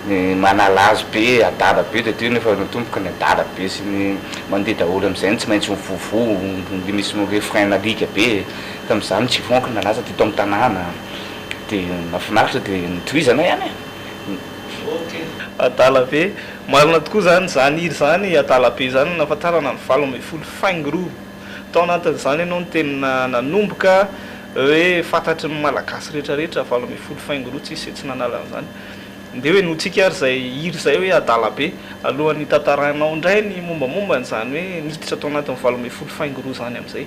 Ny manala azy be adala be dia teo nefa ny tomboky ny adala be sy ny mandeha daholo amin'izay no tsy maintsy mivovo dia misy ny refrain nalika be tamin'izany tsy vonky ny nalaza teto amin'ny tanàna dia nahafinaritra dia notohizana ihany e! Adala be. Marina tokoa izany, izany hira izany adala be izany no nahafantarana ny valo ambin'ny folo faingo roa. Tao anatin'izany ianao no teny nanomboka hoe fantatry ny Malagasy rehetrarehetra valo ambin'ny folo faingo roa, tsisy izay tsy nanala an'izany. Ndeha henointsika ary izay hira izay hoe adala be alohan'ny hitantarainao indray ny mombamomba an'izany hoe niditra tao anatin'ny valo ambin'ny folo faingo roa izany amin'izay.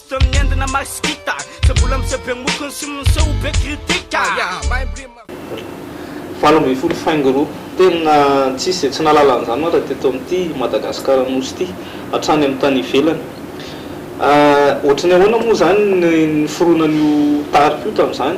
Toy ny endona Max Gita Tsy mbola miseho be mokony sy miseho be kritika Valo ambin'ny folo faingo roa. Tena tsisy izay tsy nahalala an'izany ohatra teto amin'ity Madagasikara Nosy ity hatrany amin'ny tany ivelany. Ohatry ny ahoana moa izany ny niforonan'io tarika io tamin'izany?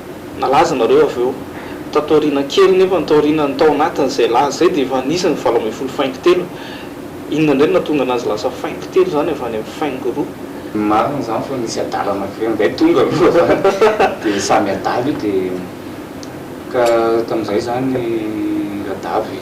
Nalaza nareo avy eo. Tato aoriana kely nefa ny tao aoriana ny tao anatiny izay laza izay dia efa anisan ny valo ambin'ny folo faingo telo. Inona indray no nahatonga anazy lasa faingo telo izany avy any amin'ny faingo roa? Marina izany fa nisy adala anankiray indray tonga aloha izany dia samy adala io dia ka tamin'izay izany i Radavy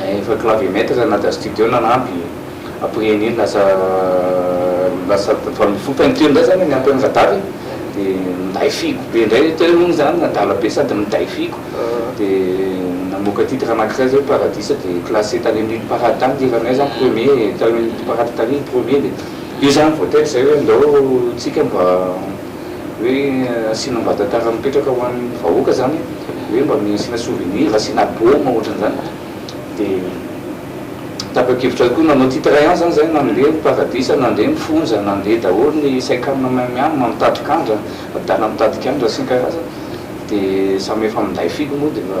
Efa clavier-maître nanadra studio nanampy, après an'iny lasa lasa tamin'ny foko any teo indray zany niampy an'i Radary dia minday figo be indray, teo moa izany adala be sady minday figo dia namoaka titre anankiray izay hoe paradisa dia classé tany amin'ny hit parade tany ny hiranay izany premier tany amin'ny hit parade tany ny premier dia io izany vao tety izay hoe ndao tsika mba hoe asiana Mbadantara mipetraka ho an'ny vahoaka zany hoe mba mia asiana souvenir asiana baume ohatran'izany dia tapakevitra koa nanao titre ihany zany zay nandeha ny paradisa nandeha ny fonja nandeha daholo ny saikana main miam mitady kandra adala mitady kandra sy ny karazany dia samy efa minday filoha moa dia efa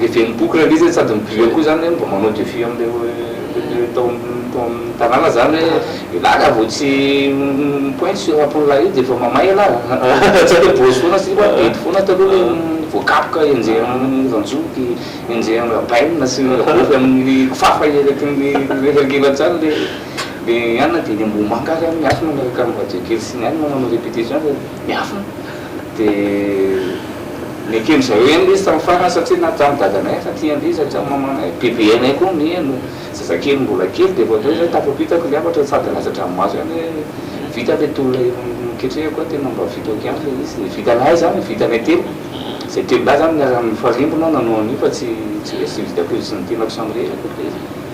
Dia feno boky ilay izy sady miblia koa izany hoe mba manao defi amin'ilay tao amin'ny tanàna izany hoe ialahy raha vao tsy mi-pointe sur la pole io dia efa mamay ialahy fa tsy hoe bôsy foana sy bedy foana taloha ilay voakapoka henjehin'ny ranjoky, henjehin'ny rabaina sy ny rabôfy amin'ny kifafa eraky ny reherankelantrano ilay dia any na dia eny Ambohimanga ary any miafina miaraka amin'ny radio kely sy ny anona manao répétition dia miafina. Dia nekeny izay heno izy tamin'ny farany satria na tamin'ny dadanay efa tianay izy hatramin'ny mamanay. Bebenay koa niheno. Zazakely mbola kely dia vao indray izay tafampitako ilay hafatra sady nilaza hatramin'ny maso ihany hoe vita ilay tolona eo amin'ny ketrehiko aho tena mba vitako ihany ilay izy. Ny vitanay izany ny vitanay telo izay telolahy izany niara-nifarimbona nanao an'io fa tsy tsy hoe tsy vitako izy sy ny tenako samirery akory ilay izy.